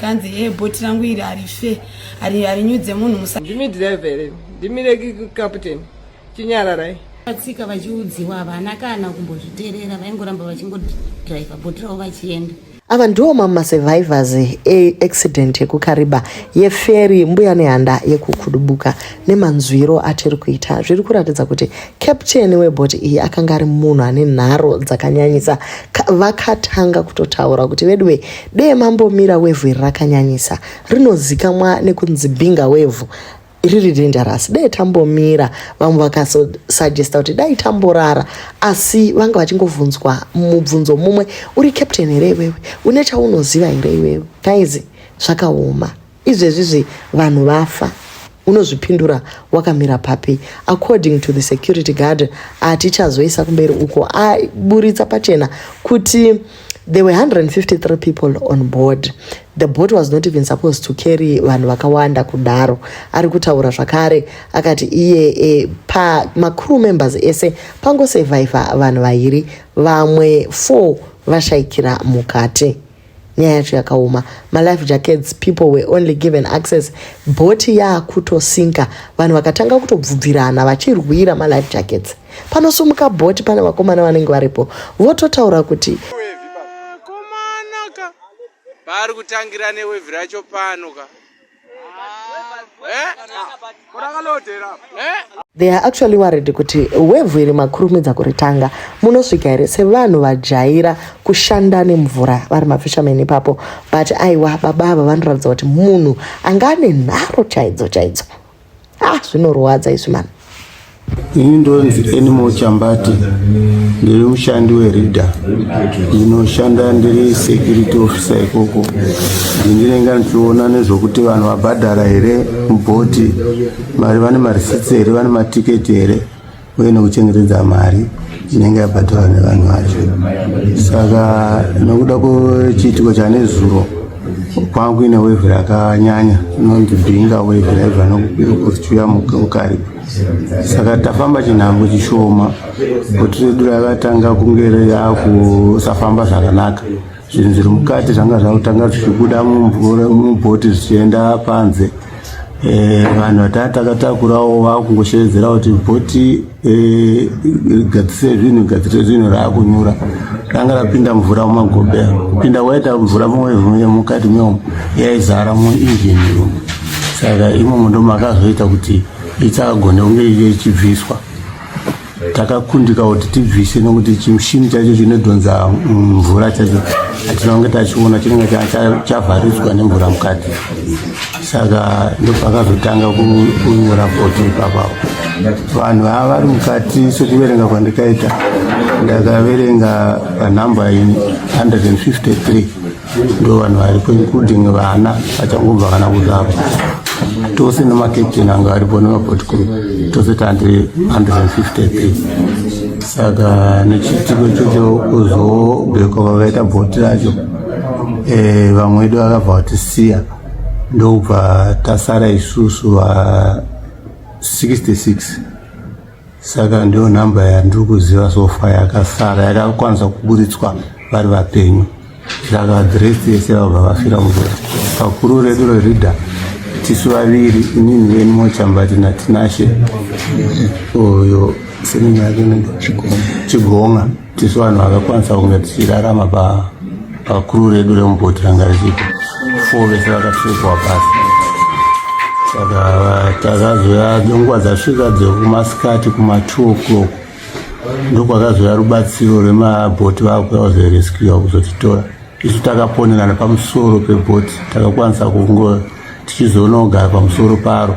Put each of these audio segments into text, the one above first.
kanzi e eh, boti rangu iri harife harinyudze munhu musa ndimi driver here ndimire captain chinyararai vatsika vachiudziwa havana kana kumbozviterera vaingoramba vachingodriver boti ravo vachienda ava ndiwo mamwe masurvivors eaccident yekukariba yeferi mbuya nehanda yekukudubuka nemanzwiro atiri kuita zviri kuratidza kuti Captain weboat iyi akanga ari munhu ane nharo dzakanyanyisa. Vakatanga kutotaura kuti veduwe dee mambomira wevhu iri rakanyanyisa rinozikamwa nekunzi binga wevhu riri dangerous dai tambomira vamwe vakasuggesta kuti dai tamborara asi vanga vachingovhunzwa mubvunzo mumwe uri captain here iwewe une chaunoziva here iwewe kaizi zvakaoma Izvezvizi vanhu vafa unozvipindura wakamira papi according to the security guard atichazoisa kumberi uko aburitsa pachena kuti there were 153 people on board the boat was not even supposed to carry vanhu vakawanda kudaro ari kutaura zvakare akati iye e, pamacrew members ese pangosurviva vanhu vairi vamwe four vashaikira mukati nyaya yacho yakaoma malife jackets people were only given access bhoti yaakutosinka vanhu vakatanga kutobvubvirana vachirwira malife jackets panosumuka bhoti pane vakomana vanenge varipo vototaura kuti paari kutangira newevi racho pano ka They are actually worried kuti wevhu iri makurumidza kuritanga munosvika here sevanhu vajaira kushanda nemvura vari mafishermen ipapo but aiwa baba ava vanoratidza kuti munhu anga ane nharo chaidzo chaidzo ah zvinorwadza izvi mani ini ndonzi animal chambati ndiri mushandi wereader ndinoshanda ndiri security officer ikoko ndinenge ndichiona nezvokuti vanhu vabhadhara here mubhoti mari vane marisitsi here vane matiketi here uye nekuchengetedza mari inenge yabhadharwa nevanhu vacho saka nokuda kwechiitiko chanezuro kwanga kuine wevhu rakanyanya inonzi binga wevhu raibva nokuchiuya mukaripa saka tafamba chinhango chishoma kuti redu rakatanga kunge reakusafamba zvakanaka zvinhu zviri mukati zvanga zvakutanga zvichibuda mumvura mubhoti zvichienda panze eh, vanhu vataa takatakurawo vakungoshevedzera kuti bhoti eh, gadzise zvinhu gadzise zvinhu raakunyura ranga rapinda mvura mumagobea kupinda kwaita mvura mukati meomo yaizara muinjini imomo saka imomo ndomakazoita kuti ichagone kunge ichibviswa takakundika kuti tibvise nokuti chimushini chacho chinodhonza mvura chacho atinange tachiona chinenge chavharidzwa nemvura mukati saka ndopakazotanga kunyora foto ipapapo vanhu vava vari mukati sekuverenga kwandikaita ndakaverenga panhamba 153 ndo vanhu varipo including vana vachangobva kana kuzvarwa tose nemakaptain anga varipo nemapot crew tose tandiri 150 p saka nechiitiko ichocho kuzobhekwa vavaita bhoti racho eh, vamwe vedu vakabva vatisiya ndokubva tasara isusu va 66 saka ndiyo nhamba yandiri kuziva sofa yakasara yakakwanisa kuburitswa vari vapenyu saka dhiresi yese vabva vafira mugore pakuru redu rerida tisu vaviri inini veni mochambati natinashe uyo seninyake chigonga tisu vanhu vakakwanisa kunge tichirarama pakuru redu remubhoti ranga richipo fo vese vakapfekwa pasi saka takazoya nenguva dzasvika dzekumasikati kuma2 o'clock ndokwakazoya rubatsiro rwemabhoti vakuya zereskiwa kuzotitora isu takaponerana pamusoro pebhoti takakwanisa kungo tichizoonogara pamusoro paro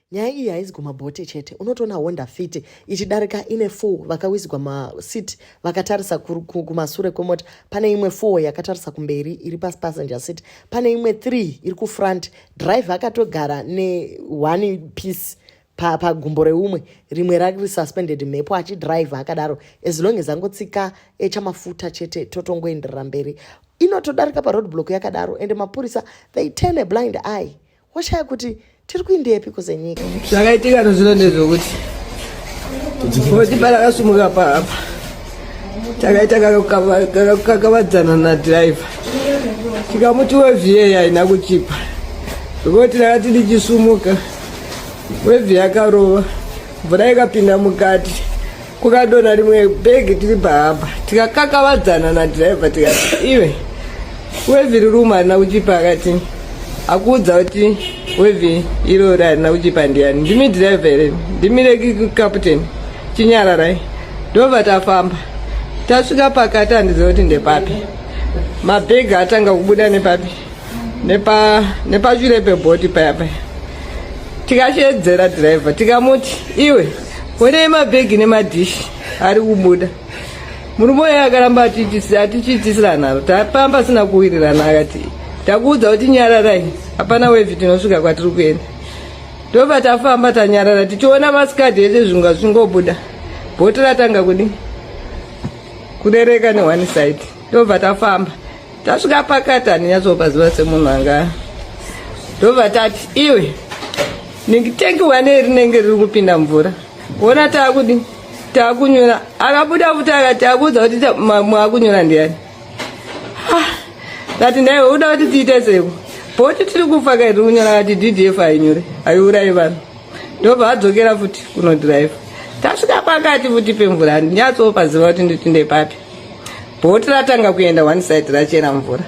nyaya iyi haizi kumabhote chete unotoona honda fiti ichidarika ine full vakawisigwa masit vakatarisa kumasure kwemota pane imwe full yakatarisa kumberi iri pasi passenger sit pane imwe three iri kufront driver akatogara ne one piece pagumbo pa reumwe rimwe rari suspended mhepo achidriver akadaro as long as angotsika echamafuta eh, chete totongoenderera mberi inotodarika paroad block yakadaro and mapurisa they turn a blind eye woshaya kuti tiri kuindepi kuzenyika zvakaitika tozvino ndezvokuti kuti parakasumuka paapa takaita kakakavadzana nadhiraivha tikamuti wevhiye haina kuchipa zvekuti rakati ndichisumuka wevhiye akarova mvura ikapinda mukati kukadona rimwe bhegi tiri pahamba tikakakavadzana nadhiraivha tikati iwe wevhiri rume harina kuchipa akati akuudza kuti wevhi irori harina kuchipa ndiyani ndimi dhiraivha here ndimi rekikaputeni chinyararai ndobva tafamba tasvika pakati handiziva kuti ndepapi mabhegi atanga kubuda nepapi nepashure pebhoti paya paya tikashedzera dhiraivha tikamuti iwe Honei mabhegi nemadhishi ari kubuda. Murume uya akaramba atichiitisira nharo, tapamba asina kuwirirana akati takuudza kuti nyararai, hapana wevhi tinosvika kwatiri kuenda. Ndobva tafamba tanyarara tichiona masikadhi ese zvinga zvingobuda. Bhoti ratanga kudii? Kurereka ne one side. Ndobva tafamba. tasvika pakati handinyatsopaziva semunhu anga ndobva tati iwe ndingitengi wane rinenge riri kupinda mvura wona taakudi taakunyora akabuda futi akati akuudza kuti mwakunyora ndiyani kati ndaiwe uda kuti tiite seko bhoti tiri kufa kairi kunyora kati ddf hainyore haiurayi vanhu ndobva adzokera futi kunodhiraivha tasvika pakati futi pemvura handinyatsopaziva kuti nditinde papi bhoti ratanga kuenda one side rachera mvura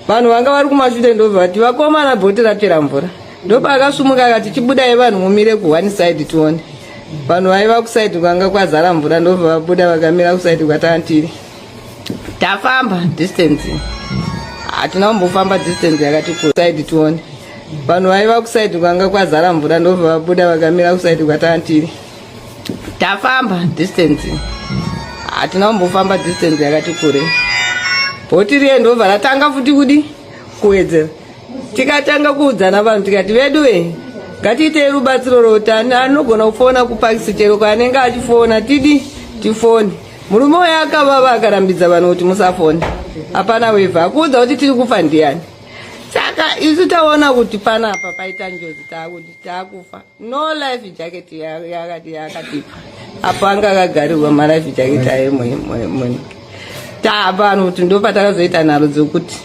vanhu vanga vari kumashure ndobva vati vakomana bhoti rapera mvura ndopa akasumuka akati chibudai vanhu mumire ku one side tione vanhu vaiva kusaidi kwanga kwazara mvura ndobva vabuda vakamira kusaidi kwatanga tiri tafamba distance hatina kumbofamba distance yakati kusaidi tione vanhu vaiva kusaidi kwanga kwazara mvura ndobva vabuda vakamira kusaidi kwatanga tiri tafamba distance hatina kumbofamba distance yakati kure bhoti riye ndobva ratanga futi kudi kuwedzera tikatanga kuudzana vanhu tikati vedu ve ngatiitei rubatsiro rotani anogona kufona kupakisi chero kwaanenge achifona tidi tifoni murume uyo akavava akarambidza vanhu kuti musafoni hapana wevha akuudza kuti tiri kufa ndiyani saka isu taona kuti panapa paita njozi taakuti taakufa no life jacket yakati yakati apo anga akagarirwa malife jacket ayo mwenike tapano kuti ndopatakazoita nharo dzokuti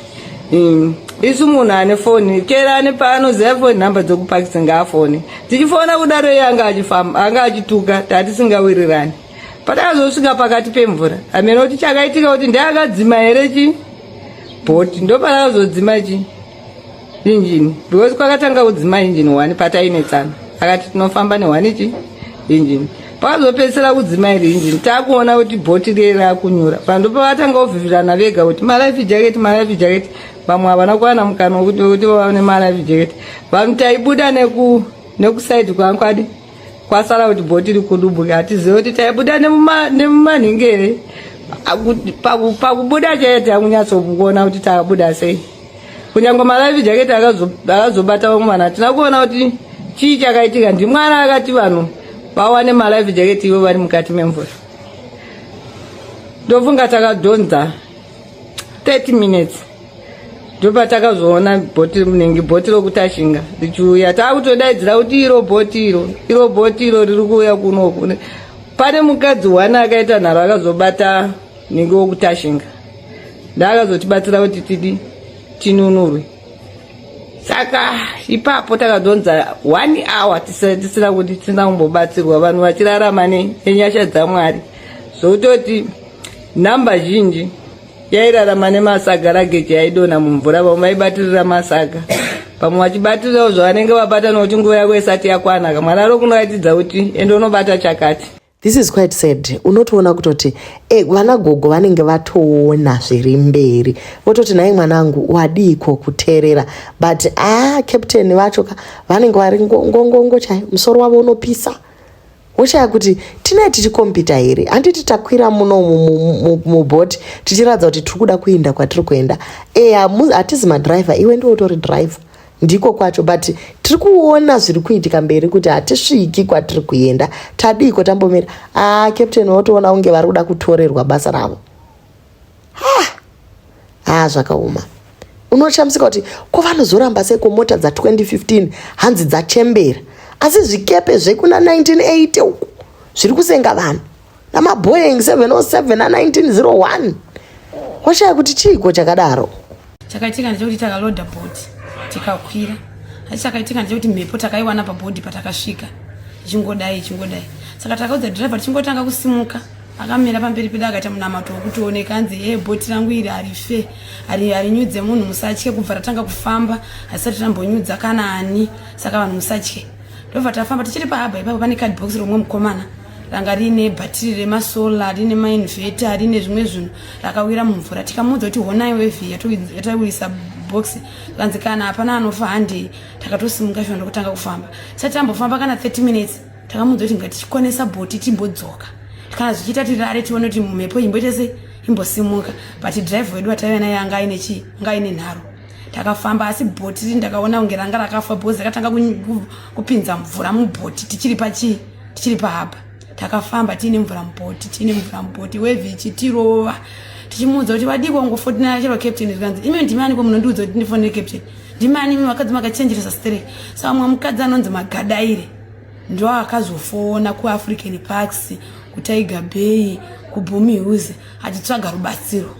mm, isu munhu ane foni chera ane paanoziva foni nhamba dzokupakisa ngaafone tichifona kudaro iye anga achifamba anga achituka tatisingawirirani patakazosvika pakati pemvura hameno kuti chakaitika kuti ndeakadzima here chi bhoti ndopanakazodzima chii injini because kwakatanga kudzima injini one patainetsana akati tinofamba nehwani chi injini pakazopedzisira kudzima iri injini takuona kuti bhoti riye rakunyura vanhu ndopavakatanga kuvhivirana vega kuti malife jacket malife jacket vamwe havana kuwana mukana wekuti wekuti vaone malife jacket vanhu taibuda neku nekusaidi kwangu adi kwasara kuti bhoti rikudubuka hatizive kuti taibuda nemumanhingi here pakubuda chete akunyatsokuona kuti takabuda sei kunyangwe malife jacket akazobata vamwe vanhu hatina kuona kuti chii chakaitika ndimwana akati vanhu vawane malife jacket ivo vari mukati memvura ndofunga takadhonza 30 minutes ndopatakazoona bhoti munenge bhoti rokutashinga richiuya taakutodaidzira kuti iro bhoti iro iro bhoti iro riri kuuya kunoku pane mukadzi one akaita nharo akazobata nenge wokutashinga ndaakazotibatsira kuti tidi tinunurwe saka ipapo takazonza one hour tisina kuti tisina kumbobatsirwa vanhu vachirarama nenyasha dzamwari zvokutoti nhamba zhinji yairarama nemasaga rageji yaidona mumvura vamwe vaibatirira masaga vamwe vachibatirirawo zvavanenge vabata nokuti nguva yako isati yakwana kamwana ro kunoratidza kuti ende unobata chakati This is quite sad. Unotoona kutoti eh, vana gogo vanenge vatoona zviri mberi vototi naye mwanangu wadiiko kuterera but ah, captain vacho ka vanenge vari ngongongo chayo musoro wavo unopisa woshaya kuti tinee tichikompita here handiti takwira muno mubhoti tichiratidza kuti tiri kuda kuenda kwatiri kuenda e hatizi madriver iwe ndiwo utori driver ndiko kwacho but tiri kuona zviri kuitika mberi kuti hatisviki kwatiri kuenda tadiiko tambomira aa ah, captain votoona kunge vari kuda kutorerwa basa ravo haa ah, zvakaoma unoshamisika kuti ko vanozoramba sei komota dza 2015 hanzi dzachembera asi zvikepe zvekuna 1980 uku zviri kusenga vanhu namaboeing 707 na 1901 washaya kuti chiiko chakadaro chakaitika ndechekuti takaloda bhoti tikakwira asi chakaitika ndechekuti mhepo takaiwana pabhodhi patakasvika ichingodai ichingodai saka takaudza dhirivha tichingotanga kusimuka akamira pamberi pedu akaita munamato wekutioneka anzi e bhoti rangu iri harife harinyudze munhu musatye kubva ratanga kufamba hasisati rambonyudza kana ani saka vanhu musatye ndobva tafamba tichiri pahaba ipapo pane card box romwe mukomana ranga riine bhatiri remasola riine mainveta riine zvimwe zvinhu rakawira mumvura tikamuudza kuti honai wevhi yatawirisa box kanzi kana hapana anofa handei takatosimuka shona ndokutanga kufamba sati tambofamba kana 30 minutes takamuudza kuti ngatichikonesa bhoti timbodzoka kana zvichiita tirare tione kuti mhepo imboita se imbosimuka but drive wedu wataive naye anga aine chii anga aine nharo takafamba asi bhoti ri ndakaona kunge ranga rakafa bhozi rakatanga kupinza mvura mubhoti tichiri pachii tichiri pahaba takafamba tiine mvura mubhoti tiine mvura mubhoti wevhi ichitirova tichimuudza kuti vadii kwangofotinara chero captain zvikanzi imwe ndimani ko munondiudza kuti ndifonere captain ndimani imi vakadzi makachenjeresa strek sa vamwe mukadzi anonzi magadaire ndo akazofona kuafrican parks kutiger bay kubhumi huse achitsvaga rubatsiro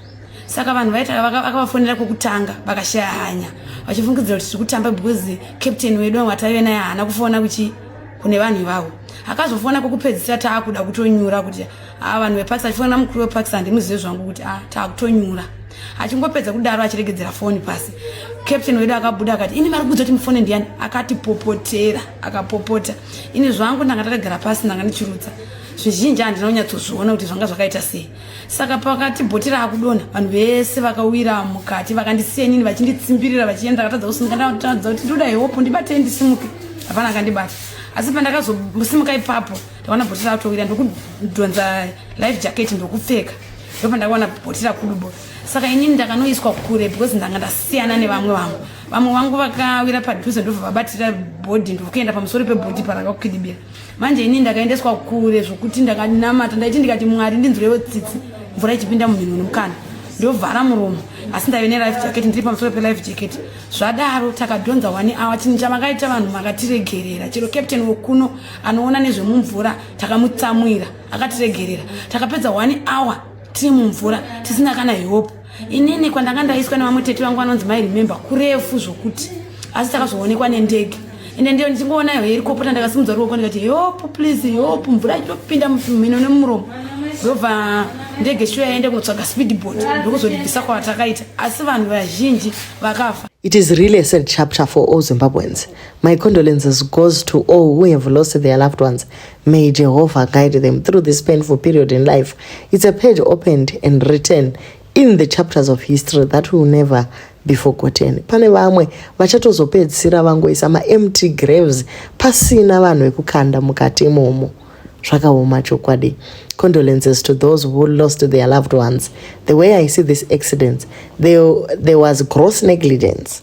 saka vanhu vaita vakavafonera kwekutanga vakashaya hanya vachifungidzira kuti tiri kutamba because captain wedu wataive naye haana kufona kuchi kune vanhu ivavo akazofona kwekupedzisira taakuda kutonyura kuti a ah, vanhu vepakistan achifonera mukuru wepakistan ndimuzive zvangu kuti a ah, taakutonyura achingopedza kudaro achiregedzera foni pasi captain wedu akabuda akati ini vari kudza kuti mufone ndiyani akatipopotera akapopota ini zvangu ndanga ndakagara pasi ndanga ndichirutsa zvizhinji handina kunyatsozviona kuti zvanga zvakaita sei saka pakati bhoti raakudonha vanhu vese vakawira mukati vakandisiya inini vachinditsimbirira vachienda ndakatadza kusimuka ndakatadza kuti ndoda heopo ndibatei ndisimuke hapana akandibata asi pandakazosimuka ipapo ndakaona bhoti rakutowira ndokudhonza life jacket ndokupfeka ndopandakaona bhoti rakudubo saka inini ndakanoiswa kure because ndanga ndasiyana nevamwe vangu vamwe vangu vakawira padhuze ndobva vabatira bhodhi ndokuenda pamusoro pebhodhi parakakukidibira manje ini ndakaendeswa kure zvokuti ndakanamata ndaiti ndikati mwari ndinzwirewo tsitsi mvura ichipinda munhino nomukana ndovhara muromo asi ndaive nelife jacket ndiri pamusoro pelife jacket zvadaro takadhonza one hour chinhu chamakaita vanhu makatiregerera chero captain wokuno anoona nezvemumvura takamutsamwira akatiregerera takapedza one hour tiri mumvura tisina kana hope inini kwandanga ndaiswa nevamwe tete vangu vanonzi mai remember kurefu zvokuti asi takazoonekwa nendege ende ndiyo ndichingoona iyoyo irikopota ndakasimudza ruoko ndikati heopu please heopu mvura ichitopinda mumhino nemuromo ndobva ndege shuwa yaende kunotsvaga speedboat ndokuzoribvisa kwatakaita asi vanhu vazhinji vakafa It is really a sad chapter for all Zimbabweans. My condolences goes to all who have lost their loved ones May Jehovah guide them through this painful period in life. It's a page opened and written in the chapters of history that will never be forgotten. Pane vamwe vachatozopedzisira vangoisa maempty graves pasina vanhu vekukanda mukati imomo. Zvakaoma chokwadi. Condolences to those who lost their loved ones. The way I see this accident, there, there was gross negligence.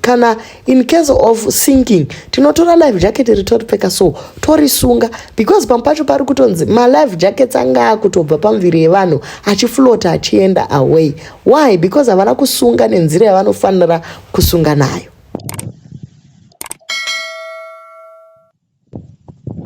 kana in case of sinking tinotora life jacket ritoripfeka so torisunga because pamwe pacho pari kutonzi malife jackets anga akutobva pamuviri yevanhu achiflota achienda away why because havana kusunga nenzira yavanofanira kusunga nayo